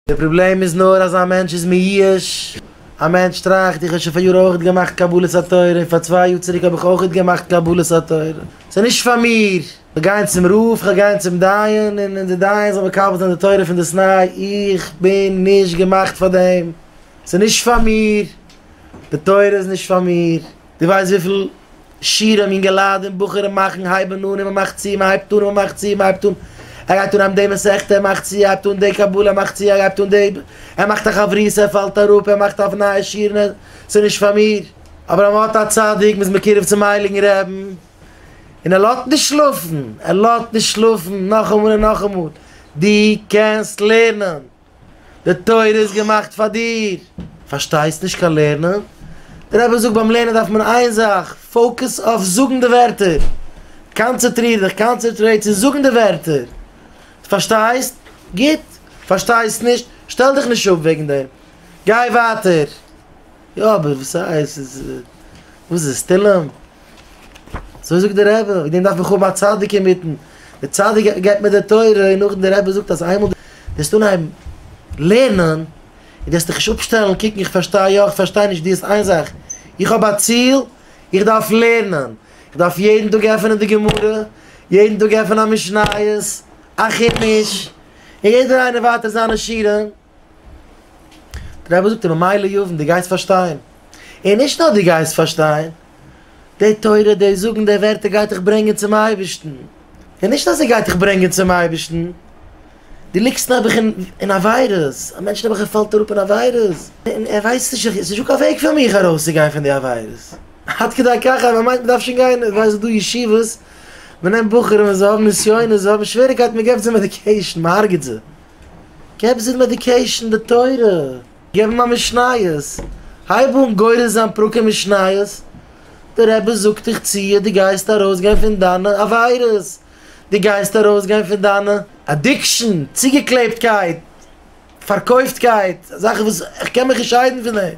די פראבלעם איז נאר אז א מענטש איז מיואש, א מענטש טראכט, איך האב שוין פאריאר אויכעט געמאכט קבלת התורה, און פאר צוויי יאר צוריק האב איך אויכעט געמאכט קבלת התורה, ס'איז נישט פאר מיר, כ'וועל גיין צום רב, כ'וועל גיין צום דיין, און און די דיין זאל מקבל זיין די תורה פונדאסניי, איך בין נישט געמאכט פאר דעם, ס'איז נישט פאר מיר, די תורה איז נישט פאר מיר. די ווייסט וויפיל שירים אינגעלייט און בחורים מאכן הייבן אן און מען מאכט צו מען הייבט אן און מען מאכט צו מען הייבט אן ער גייט אן די מסכת ער מאכט צו ער הייבט אן די קבלה ער מאכט צו ער הייבט אן די ער מאכט א חברותא ער פאלט אראפ ער מאכט אויף נייע שירן ער ס'איז נישט פאר מיר. אבער אז מען האט א צדיק מען איז מקורב צום הייליגן רעבן און ער לאזט נישט שלאפן ער לאזט נישט שלאפן נאכאמאל און נאכאמאל דו קענסט לערנען די תורה איז געמאכט פאר דיר! פארשטייסט נישט קיין לערנען? דער רבי זאגט ביים לערנען דארף מען איין זאך, פאוקעס אויף זאגן די ווערטער! קאנצעטריר דיך, קאנצערטרעיט צו זאגן די ווערטער! די פארשטייסט? גוט! פארשטייסט נישט? שטעל דיך נישט אפ וועגן דעם! גיי ווייטער! יא אבער וואס הייסט? וואס איז עס? תהלים? אזוי זאגט די רבי, וועגן דעם דארף איך האבן א צדיק אינמיטן, דער צדיק געבט מיר די תורה, און נאכדעם די רבי זאגט אז איינמאל וועסטו אנהייבן לערנען, און וועסט דיך נישט אפשטעלן קוקן איך פארשטיי יא איך פארשטיי נישט, דו האסט איין זאך, איך האב א ציל, איך דארף לערנען, איך דארף יעדן טאג עפענען די גמרא, יעדן טאג עפענען א משניות, א חומש, און יעדער איינער ווייטער זיינע שיעורים. דער רבי זאגט אים ממילא יבין, דו גייסט פארשטיין, און נישט נאר דו גייסט פארשטיין, די תורה, די זאגן, די ווערטער גייט דיך ברענגען צום אייבערשטן, און נישט אז עס גייט דיך ברענגען צום אייבערשטן, דו ליגסט נעבעך אין עבירות, א מענטש נעבעך ער פאלט אראפ אין עבירות, און ער ווייסט נישט, עס איז נישטא קיין וועג פאר מיך ארויס צו גיין פון די עבירות, עד כדי כך אז מען מיינט מען דארף שוין גיין, איך ווייס ס'דא ישיבות, מען נעמט בחורים און זיי האבן נסיונות, זיי האבן שוועריקייטן, מען געבט זיי מעדיקעישן, מען הרג'ט זיי. געב זיי מעדיקעישן, די תורה, געב אים א משניות, הייב אן גורס זיין פרקים משניות, די רבי זאגט איך ציה, די גייסט ארויס גיין פון דיינע עבירות, די גייסט ארויס גיין פון דיינע. אדיקשן, צוגעקלעבטקייט, פארקויפטקייט, זאכן וואס איך קען מיך נישט שיידן פון דעם.